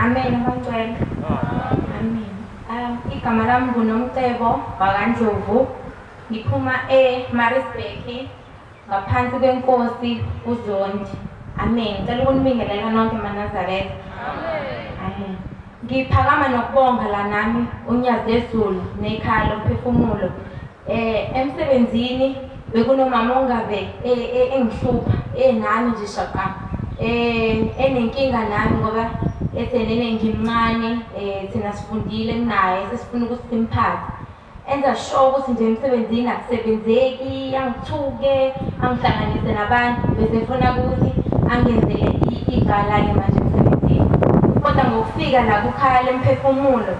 Amen abacela. Amen. Um igama lami nguNomcebo wakandlovu. Ngiphuma eMaritzburg ngaphansi kwenkosi uZondi. Amen. Ngicela ukunibingelela nonke maNazaretha. Amen. Amen. Ngiphakama nokubonga la nami uNyazi lezulu nekhaya lomphefumulo. Eh emsebenzini bekunomama ongabe e, e, engihlupha enami nje shaqa eh enenkinga nami ngoba ethenene ngimncane eh thina sifundile naye sesifuna ukuthi simphathe enza sure ukuthi nje emsebenzini akusebenzeki angithuke angihlanganise nabantu bese efuna ukuthi angenzele igala-ke manje emsebenzini kodwa ngokufika la kukhala lemphefumulo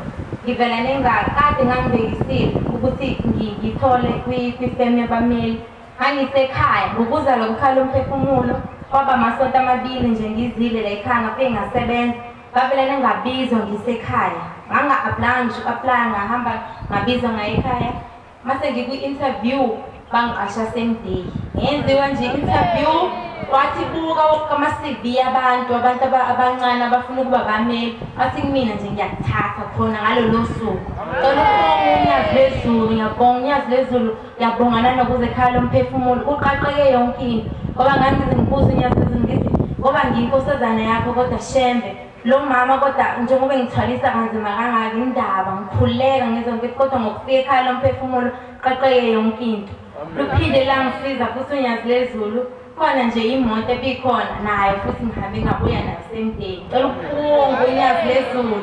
Ngivela nengalo kade ngangibekisile ukuthi ngi- ngithole kwi- kwifemu yabameli. Ngangisekhaya ngokuza lo mkhalo umphefumulo kwaba amasonto amabili nje ngizile la ekhaya ngafike ngasebenza ngavele nengabizwa ngisekhaya nganga-aplanga ngisho uku-aplaya ngahamba ngabizwa ngaye ekhaya Mase ngikwi interview bangiqasha same day. Ngenziwa nje interview wathi buka kama CV abantu abantu abancane abafuna ukuba bameli wathi kumina nje ngiyakuthatha khona ngalolo suku. Cela ukubonga unyazi lezulu ngiyabonga unyazi lezulu ngiyabonga nanokuze ekhaya lomphefumulo kuqaqeke yonke into ngoba ngangizibuza unyazi lezulu ngithi ngoba ngiyinkosazana yakho kodwa shembe Lo mama kodwa njengoba engithwalisa kanzima kangaka indaba ngikhuleka ngizwe ngithi kodwa ngokufika ekhaya lomphefumulo qaqeke yonke into. Luphinde langisiza futhi unyazi lezulu khona nje imoto ebikhona nayo futhi ngihambe ngabuya nayo same day. Cela ukuphunga unyazi lezulu.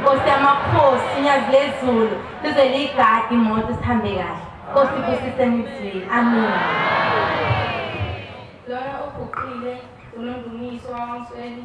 Nkosi yamakhosi unyazi lezulu lize liyigadi imoto sihambe kahle. Nkosi ibusise nizwile. Amen. Lona uguqile uNondumiso waMsweli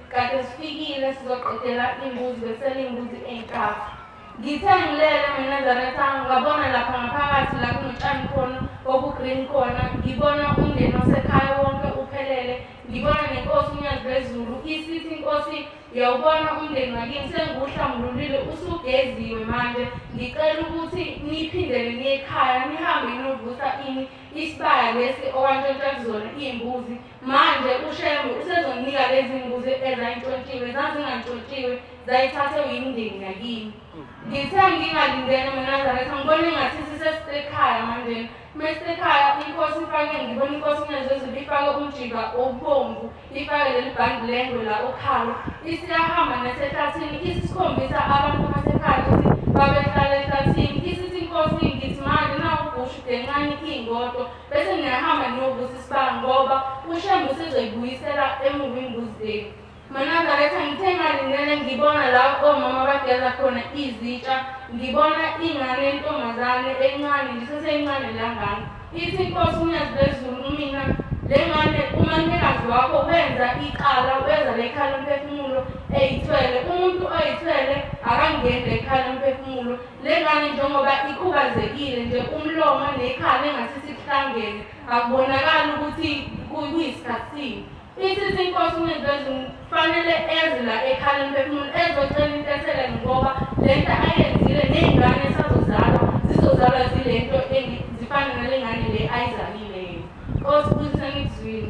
Kade sifikile sizoqedela imbuzi besenimbuzi enkafu. Ngithe ngilele mina Zarethangu ngabona lapha ngaphakathi la kunotshani khona obugreen khona ngibona umndeni wasekhaya wonke uphelele ngibona nenkosi unyazi lwezulu isithi inkosi yawubona umndeni wakini sengiwuhlambululile usugeziwe manje ngicela ukuthi niphindele niyekhaya nihambe ninovusa ini isibaya lesi owantshontsha kuzona iy'mbuzi Manje uShembe usezomnika lezi mbuzi ezayintshontshiwe zazingantshontshiwe zayithathe uyimndeni yakini. Ngithe ngingalindene manazaretha ngibone ngathi sisesekhaya manje mesekhaya inkosi ifake ngibona inkosi nezezulu ifake umjiba obomvu ifake leli bhandi lengwe la okhalo isiyahamba nasehlathini isikhombisa abantu basekhaya ukuthi babehlala ehlathini isithi inkosi ngithi manje nawugushu dencane ingodo bese ngingahamba ngiyobuza isibanga ngoba ushembe usezoyibuyisela emuva imbuzi leli manazareth angithe ngalindele ngibona la omama bageza khona izitsha ngibona ingane yentombazane encane ndiseseyincane langana ithi inkosi unyazi lwezulu umina le ngane umalumekazi wakho wenza iqala wenza le khala umphefumulo eyithwele umuntu oyithwele akangeni le khala umphefumulo Lengane njengoba ikhubazekile nje umlomo nekhala engathi sikuhlangene akubonakali ukuthi kuyisikhathini isithi inkosi uNezulu kufanele eze la ekhaleni bephumule ezocela intethele ngoba le nto ayenzile ney'ngane esazozalwa zizozalwa zile nto zifane nale ngane le ayizalile yena nkosi kuthi senikuzwile